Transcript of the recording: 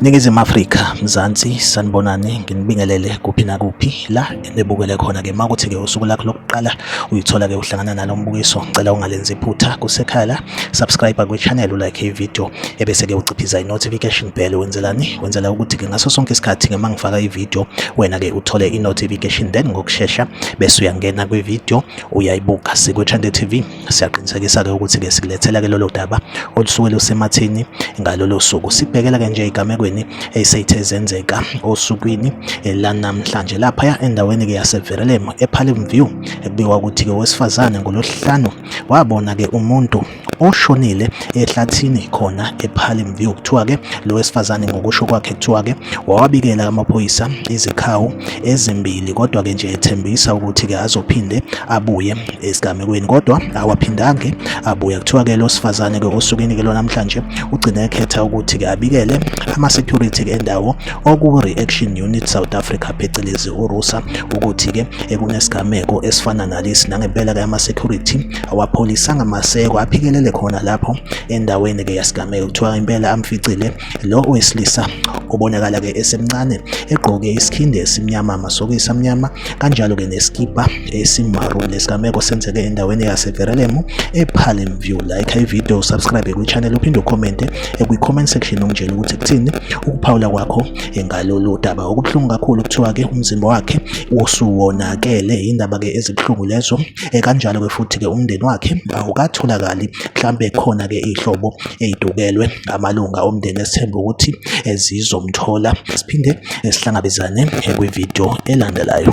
Ningizimu Afrika, Mzansi, sanibonani, nginibingelele kuphi nakuphi la enibukele khona ke makuthi ke usuku lakho lokuqala uyithola ke uhlangana nalo mbukiso, ngicela ungalenzi iphutha kusekhaya la, subscribe kwi channel ulike ivideo ebese ke uciphiza i notification bell wenzelani? Wenzela ukuthi ke ngaso sonke isikhathi ke mangifaka ivideo wena ke uthole i notification then ngokushesha bese uyangena kwi video uyayibuka siku Chande TV. siyaqinisekisa-ke ukuthi-ke sikulethela-ke lolo daba olusuke lusemathini ngalolo suku sibhekela-ke nje egamekweni eseyithe zenzeka osukwini eh, lanamhlanje laphaya endaweni-ke yaseverelemo ephalim view ekubikwa ukuthi-ke owesifazane ngolosihlanu wabona-ke umuntu oshonile ehlathini khona ePalm View kuthiwa ke lo wesifazane ngokusho kwakhe kuthiwa ke wawabikela amaphoyisa izikhawu ezimbili kodwa ke nje ethembisa ukuthi ke azophinde abuye esigamekweni kodwa awaphindange abuya kuthiwa-ke lo sifazane-ke osukwini-ke lo namhlanje ugcine ekhetha ukuthi-ke abikele ama-security-ke endawo oku-reaction unit south africa phecelezi urusa ukuthi-ke ekunesigameko esifana nalesi nangempela-ke ama-security awapholisanga maseko aphikelele khona lapho endaweni-ke yasigameko kuthiwa impela amficile Lo owesilisa obonakala ke esemncane egqoke isikhindi esimnyama amasokisi amnyama kanjalo ke neskipa esimaroon lesigameko senzeke endaweni yaseverelemo epalm view like ivideo usubscribe kwichannel uphinde ucommente ekwi-comment section ungitshela ukuthi kuthini ukuphawula kwakho ngalolu daba okubuhlungu kakhulu kuthiwa ke umzimba wakhe wosuwonakele yindaba ke ezibuhlungu lezo Eh, kanjalo ke futhi ke umndeni wakhe awukatholakali mhlambe khona ke ihlobo ezidukelwe amalunga omndeni esithemba ukuthi ezizomthola siphinde sihlangabezane kwivideo elandelayo